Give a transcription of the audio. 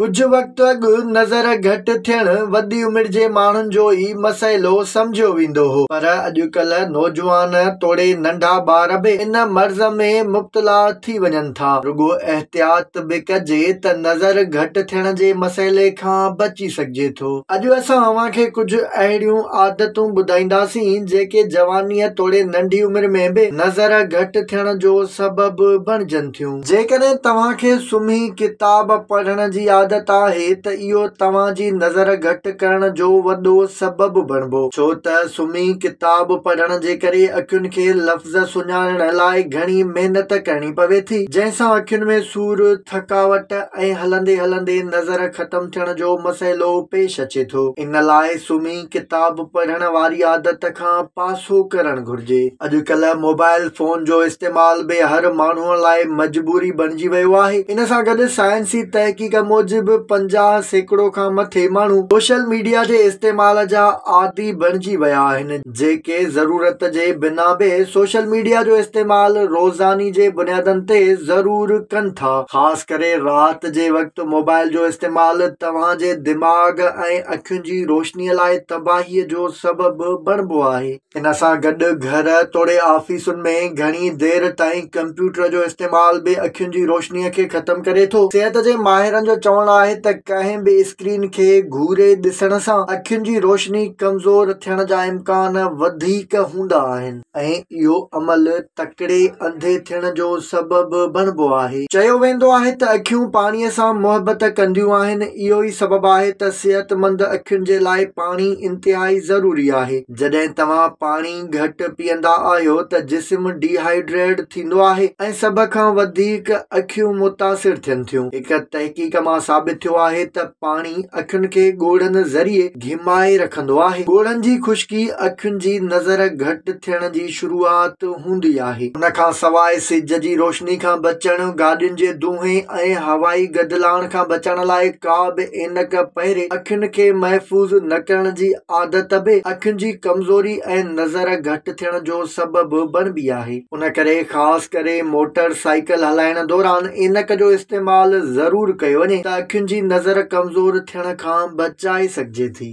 ڪجهه وقت اڳ نظر گهٽ ٿيڻ وڏي عمر جي ماڻهن جو ئي مسئلو سمجهيو ويندو هو پر اڄڪلهه نوجوان توڙي ننڍا ٻار به ان مرض ۾ مبتلا ٿي وڃن ٿا. رڳو احتياط به ڪجي ته نظر گهٽ ٿيڻ جي مسئلي کان بچي سگهجي ٿو. اڄ اسان اوهان کي ڪجهه اهڙيون عادتون ٻڌائينداسين جيڪي جوانيء توڙي ننڍي عمر ۾ به نظر گهٽ ٿيڻ جو سبب بڻجن ٿيون. جيڪڏهن توهان کي سمهي ڪتاب پڙهڻ جي عادت آهي ته اهو توهان جي نظر گهٽ ڪرڻ جو وڏو سبب بڻبو ڇو ته سمهي ڪتاب پڙهڻ جي ڪري اکين کي لفظ سڃاڻڻ لاء گهڻي محنت ڪرڻي پوي ٿي جنهن سان اکين ۾ سور، ٿڪاوٽ ۽ هلندي هلندي نظر ختم ٿيڻ جو مسئلو پيش اچي ٿو ان لاء سمهي. ڪتاب پڙهڻ واري عادت کان پاسو ڪرڻ گهرجي اڄڪلهه موبائل فون جو استعمال به هر ماڻهو لاء مجبوري بڻجي ويو آهي ان سان گڏ سائنسي تحقيق موجب پنجاهه سيڪڙو کان مٿي ماڻهو سوشل ميڊيا جي استعمال جا عادي بڻجي ويا آهن جيڪي ضرورت جي بنا به سوشل ميڊيا جو استعمال روزاني جي بنيادن تي ضرور ڪن ٿا خاص ڪري رات جي وقت موبائل جو استعمال توهان جي دماغ ۽ اکين جي روشني لاء تباهي جو سبب بڻبو آهي. ان سان گڏ گهر توڙي آفيسن ۾ گهڻي دير تائين ڪمپيوٽر جو استعمال به اکين جي روشني کي ختم ڪري ٿو. صحت جي ماهرن جو چوڻ آهي ته ڪنهن به اسڪرين کي گهوري ڏسڻ سان اکين جي روشني ڪمزور ٿيڻ جا امڪان وڌيڪ هوندا آهن. ۽ اهو عمل تڪڙي انڌي ٿيڻ جو سبب بڻبو آهي. چيو ويندو آهي ته اکيون پاڻي سان محبت ڪنديون آهن، اهو ئي سبب آهي ته صحتمند اکين جي لاء پاڻي انتهائي ضروري آهي. جڏهن توهان پاڻي گهٽ پيئندا آهيو ته جسم ڊي هائيڊريڊ ٿيندو آهي ۽ سڀ کان وڌيڪ اکيون متاثر ٿين ٿيون. هڪ تحقيق مان ثابت ٿيو آهي ته پاڻي اکين کي ڳوڙهن ذريعي گهمائي رکندو آهي. ڳوڙهن جي خشڪي اکين جي نظر گهٽ ٿيڻ جي شروعات هوندي آهي. ان کان سواء سج جي روشني کان بچڻ، گاڏين جي دونهين ۽ هوائي گدلاڻ کان بچڻ لاء ڪا به عينڪ پهري اکين کي محفوظ نه ڪرڻ جي عادت به اکين جي ڪمزوري ۽ نظر گهٽ ٿيڻ جو سبب بڻبي آهي. ان ڪري خاص ڪري موٽر سائيڪل هلائڻ دوران عينڪ جو استعمال ضرور ڪيو وڃي ته اکين جي نظر ڪمزور ٿيڻ کان بچائي سگهجي ٿي.